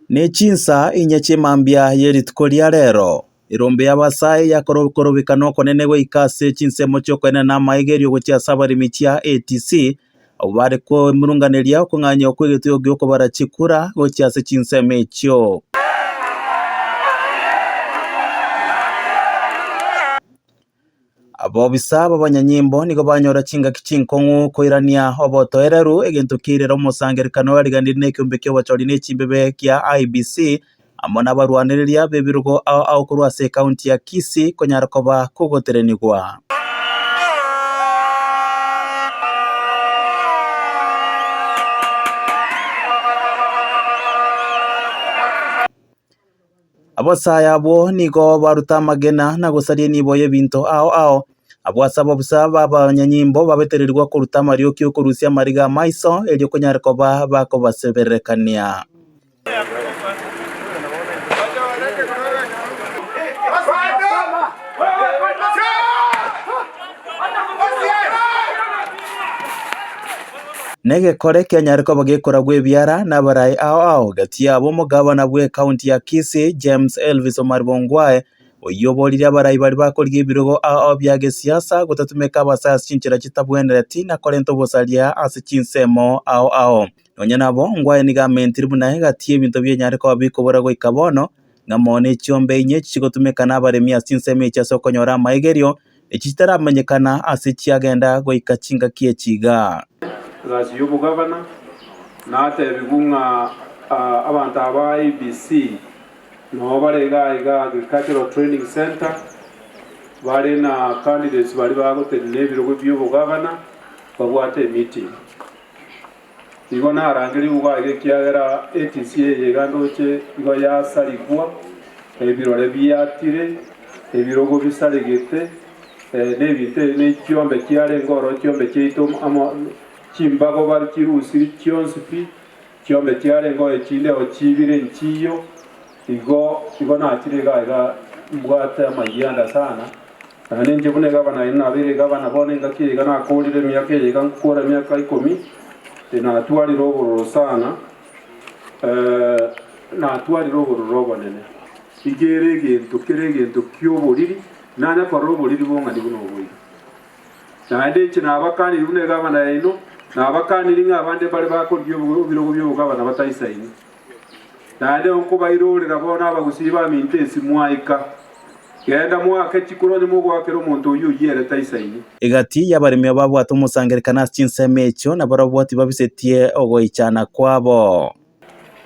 Nechinsaa inye chimambia yerituko ria rero, erombe y'abasae yakorokorobeka nokonene goika ase chinsemo chiokoenena na amaegerio gochia ase abaremi chia ATC, abwo bare koemurunganeria okong'anya okw'egetuyo gi'okobara chikura gochia ase chinsemo echio. Abobisa b'abanyanyimbo nigo banyora chingaki chinkong'u koirania obotoereru, egento kiairera omosangererekano origanire nekiombe ki'obochori ne chimbebe gia IEBC amo nabarwanereria b'ebirogo ao ao korwa ase ekaunti ya Kisii konyara koba kogoterenigwa. Abasae abwo nigo baruta amagena na gosaria enibo y'ebinto ao ao. Abwo ase abo bosa b'abanyanyimbo babetererigwe koruta amarioki okorusia amariga amaiso, erio konyare koba bakobaseberekania. Negekore kianyare koba gekora gw'ebiara nabarai ao ao gati yabo omogabana bw'ecounty ya Kisii James Elvis Omari Bongwae oyio oborire abarai baria bakorigia ebirogo ao ao bia gesiasa gotatumeka abasae ase chinchera chitabwenereti na korenta obosaria ase chinsemo ao ao. Nonya nabo Ongwae nigo amentiri buna egati y'ebinto bianyare koba bikobora goika bono ng'a mono echiombe inye echi chigotumeka nabaremi ase ensemo echi ase okonyora amaegerio, echi chitaramenyekana aase chiagenda goika chingaki echi igaa. Egasi y'obogabana, natebigwe ng'a abanto aba ABC noo bare igaa igaa Agricultural Training Centre, bare na candidates baria bagotenena ebirogo bi'obogabana, babwate emeeting. Nigo narangerie igwa aiga ekiagera etisi eye iga ndoche igo yasarigwa, ebirore biatire, ebirogo bisaregete, nebinto ebi ne chiombe chiarenge oro chiombe chiaito amo chimbago bare chirusiri chionsi pi, chiombe chiarenge oo echinde oo chibire nchiyo. Igo igo nachire iga aiga mbwate amayia ande sana, Naende inche buna egavana aye nabeire egavana bono engaki eyeiga nakoorire emiaka eyeiga nkokoora emiaka ikomi, natwarire obororo sana, ee, natwarire obororo obonene, iga ere egento kere egento ki'oboriri nanye korora oboriri bong'ani buna oboigo. Naende inche nabakanirie buna egavana yaino, nabakanirie ng'a abande mbare bakorigia ebirogo bi'obogavana bataisaini, Naende nkobairorera bono abagusii baminto ensi mwaika. Genda moake chikoro onye mogoakera omonto oyio oyierete aisaini. Egati y'abaremi ababwate omosangererekano ase chinsemo echio, na barabwo tibabisetie ogoichana kwabo.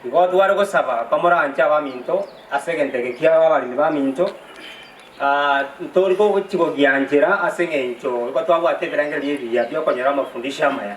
Nigo tware gosaba komoranche abaminto ase egento eke kiao abaremi baminto, ntori kochigogianchera ase engencho nigo twabwate ebirengererio ebiya bi'okonyora amafundisho amaya.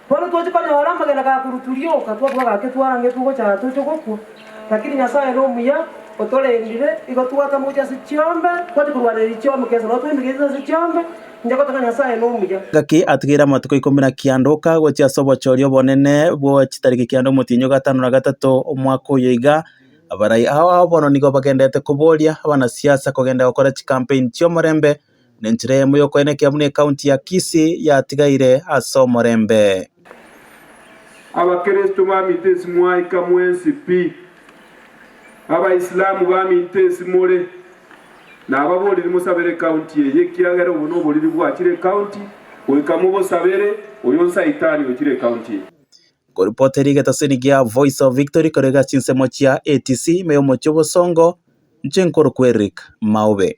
Bono toche konyora amagena ga koruturioka, twabua gaki twarangetwe gocha aa toche gokwa, lakini Nyasaye nomuya, otorendire, igo twatama gocha ase chiombe, twache korwanereria chiombe kesa nao twemegete ase chiombe, inche gote ng'a Nyasaye nomuya. Gaki atigeire amatuko ikomi na kianda oka gochia ase obochoria obonene bwa chitariki kianda omotienyi o gatano na gatato omwaka oyo iga, abarai ao ao bono nigo bagendererete koboria abanasiasa kogenda gokora chikampeni chi'omorembe, na enchera eyemo y'okoenekia buna ekaunti ya Kisii yatigaire ase omorembe. Abakristo baminto esi mwaika mwensi pi. Abaisilamu baminto esi more. Nababorire mosabere ekaunti eye ekiagera obo noboriri bwachire ekaunti, goika mobosabere oyo nsaitani ochire ekaunti eye. Koripoteri geteseni gia Voice of Victory korega chinsemo chia ATC ime y'omochie o Bosongo, Inche nkorokwa Eric Maube.